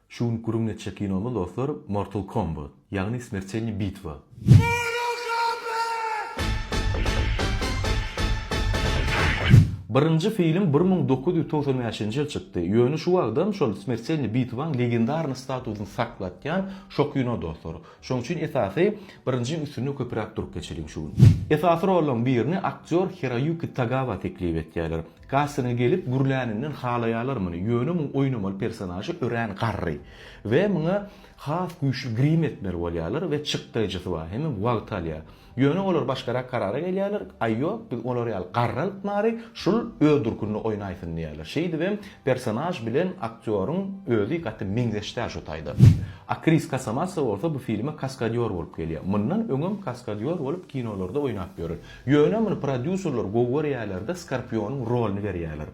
Şu gün gürrüň geçjek kinomyz dostlar Mortal Kombat, ýagny Smertelniý bitwa. Birinji film bir müň dokuz ýüz togsan bäşinji ýyl çykdy, ýöne şu wagtam şol Smertelniý bitwaň legendarnyý statusyny saklatýan şo kino dostlar. Şoň üçin esasy birinjiň üstünde köpüräk durup geçeliň şu gün. Esasy rollaň birini aktýor Hiroýuki Tagawa teklip etýärler. Kasyna gelip gürläninden halaýalar muny, ýöne muň oýnamaly personažy örän garry we muňa has güýçli grim etmeli bolýarlar we çykdaýjysy bar, hemem wagt alýar. Ýöne olar başgarak karara gelýärler, aý ýok, biz olar ýaly garry alyp bary, şul öz durkunda oýnaýsyn diýýärler. Şeýdibem personaž bilen aktýoryň özi gaty meňzeş däl şu taýda. Akris Kasamatsa bolsa bu filme kaskadýor bolup gelýär. Mundan öňem kaskadýor bolup kinolarda oýnap ýören. Ýöne muny prodýuserler gowy görýärlerde Skorpionyň rolyny berýärler.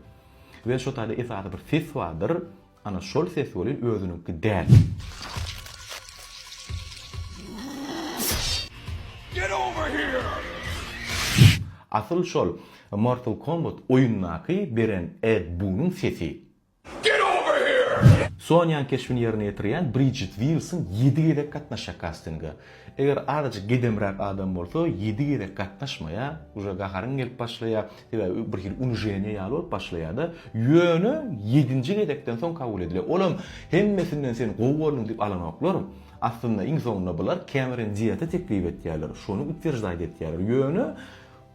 We şo taýda esasy bir ses bardyr, ana şol ses welin özüniňki däl. Asyl şol Mortal Kombat oýundaky beren Ed Bunyň sesi. Get over here! Sonýanyň keşbini ýerine ýetirýän Bridjit Wilson ýedi gezek gatnaşýar kastinge. Eger azajyk gedemräk adam bolsa, ýedi gezek gatnaşmaýa, uje gaharyň gelip başlaýa, sebäbi bir hili unijeniýa ýaly bolup başlaýada, ýöne ýedinji gezekden soň kabul edilýä. Olam hemmesinden sen gowy bolduň diýip alanoklar. Aslynda iň soňunda bular Cameron Diaty teklip etýärler, şony utwierjdaýt etýärler, ýöne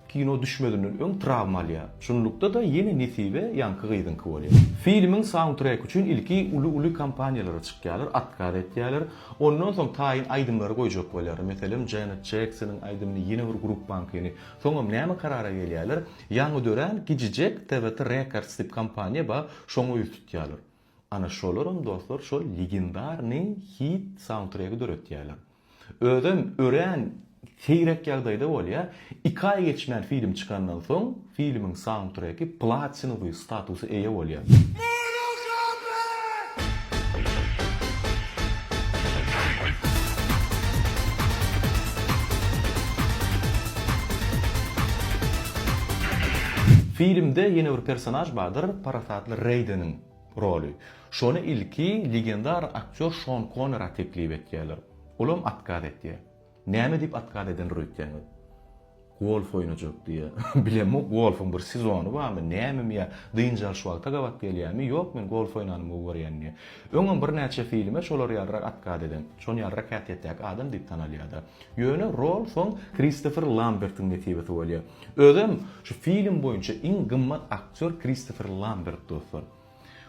Kino düşmezinden öň trawma alýar. Şunlukda-da ýene nesibe ýaňky gyzyňky bolýar. Filmiň saundtreki üçin ilki uly-uly kompaniýalara çykýarlar, otkaz etýärler. Ondan soň taýyn aýdymlary goýjak bolýarlar. Meselem, Janet Jeksonyň aýdymyny, ýene bir gruppaňkyny. Soňam näme karara gelýärler? Ýaňy dörän gijijek TVT Records diýip kompaniýa bar, şoňa ýüz tutýarlar. Ana şolaram, dostlar, şol legendarnyý hit saundtregi döretýärler. Özem örän seýrek ýagdaýda bolýar. Iki aý geçmän film çykandan soň, filmiň saundtreki platinowy statusa eýe bolýar. Filmde ýene bir personaž bardyr, parasatly Reýdeniň. roly. Şony ilki legendar aktýor Şon Konera teklip etýärler. Olam otkaz etýär. Näme diýip otkaz edendir öýtseňiz? Golf oýnajak diýýär. Bilemok golfyň bir sezony barmy, nämemi ýa dynç alyş wagta gabat gelýärmi, ýok men golf oýnanymy gowy görýän diýýär. Öňem birnäçe filme şolar ýalyrak otkaz eden, şon ýalyrak häsiýetdäki adam diýip tanalýar-da. Ýöne rol soň Kristofer Lambertiň nesibesi bolýar. Özem şu film boýunça iň gymmat ak. Sör Kristofer Lambert dostlar.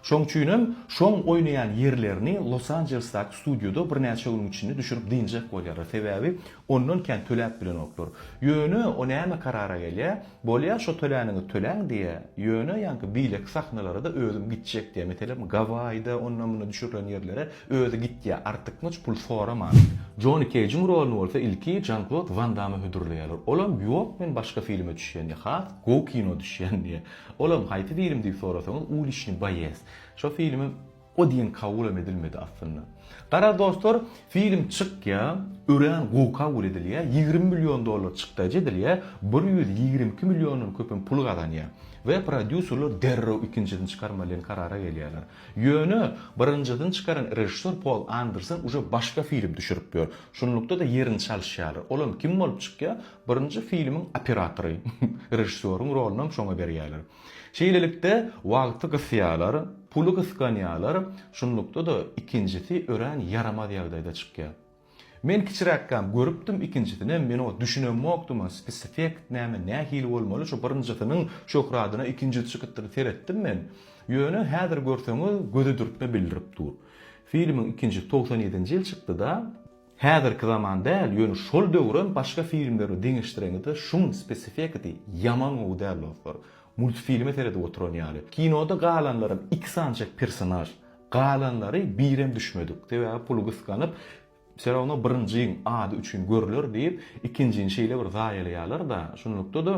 Şoň üçinem şoň oýnaýan ýerlerini Los Anjelesdaky studioda birnäçe günüň içinde düşürip dynjak bolýarlar. Sebäbi ondan kän töläp bilenoklar. Ýöne o näme karara gelýä, bolýa şo tölänini töläň diýä, ýöne ýaňky beýleki sahnalarada özüm gitjek diýä. Meselem Gawaýda onda munda düşürilen ýerlere özi gitýä artykmaç pul soraman. Joni Keýjiň roluny bolsa ilki Jan-Klod Wan Dama hödürleýärler. Olam ýok men başga filme düşýän diýä. Has Gowy kino düşýän diýä. Olam haýsy film diýip sorasaňyz Uliçnyý boýez. Şo filmem o diýen kabulam edilmedi aslynda. Garaz dostlar film çykýa örän gowy kabul edilýä ýigrimi million dollar çykdajy edilýä bir ýüz ýigrimi iki milliondan köpem pul gazanýa we prodýuserler derrew ikinjisini çykarmaly diýen karara gelýäler. Ýöne birinjisini çykaran režissýor Pol Anderson uje başga film düşürip ýör. Şunlukda-da ýerini çalyşýalar. Olam kim bolup çykýa? Birinji filmiň operatory, režissýoryň rolunam şoňa berýärler. Şeýlelikde, wagty gysýarlar, puly gysganýarlar, şunlukda-da ikinjisi örän ýaramaz ýagdaýda çykýar. Men kiçiräkkäm görüpdim ikinjisinem, men oňa düşünemmokdym, spesifekt näme, nähili bolmaly, şu birinjisiniň şöhradyna ikinjisi çykypdyr, seretdim men. Ýöne häzir görseňiz, göze dürtme bildirip dur. Filmiň ikinjisi togsan ýedinji ýyl çykdy-da. Häzirki zaman däl ýöne şol döwrem başga filmleri deňeşdireňizde şuň spesifekasy ýaman gowy däl dostlar. Multfilme seredip oturan ýaly. Kinoda galanlaram iki sanjak personaž. Galanlary birem düşmedik. Sebäbi puly gyskanyp Wse rawno birinjiň ady üçin görüler diýip ikinjini şeýle bir zaýalaýalar da şunlukda da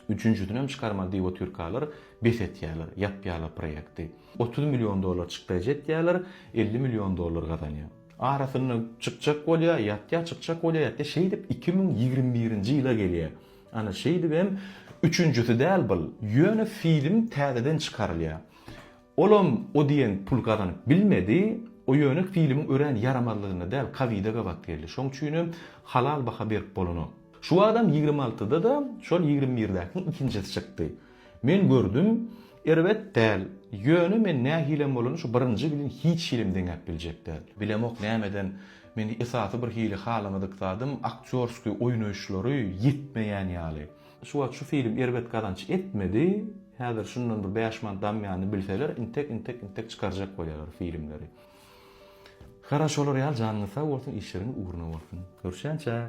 Üçünjisinem çykarmaly diýip otyrkalar, bes etýärler, ýapýarlar proýekti. Otuz million dollar çykdaýjy etýärler, elli million dollar gazanýar. Arasynda çykjak bolýar, ýatýar, çykjak bolýar, ýatýar. Şeýdip iki müň ýigrimi birinji ýyla gelýär. Ana, şeýdibem üçünjisi däl bul. Ýöne film täzeden çykarylýar. Olam o diýen pul gazanyp bilmedi, o ýöne filmiň örän ýaramazlygynda däl kowide gabat geldi, şoň üçinem halal baha berip bolanok. Şu adam ýigrimi altyda-da şol ýigrimi birdäkiň ikinjisi çykdy. Men gördüm, erbet däl, ýöne men nähilem bolanda şu birinji bilen hiç hilem deňäp biljek däl. Bilemok nämeden men esasy birhili halamadyk zadym aktýorskiý oýnaýyşlary ýetmeýän ýaly. Şu wagt şu film erbet gazanç etmedi, häzir şundan bir bäş manat damýany bilseler intek intek intek çykarjak bolýalar filmleri. Garaşolar ýaly janyňyz sag bolsun işleriňiz ugruna bolsun. Görüşýänçä.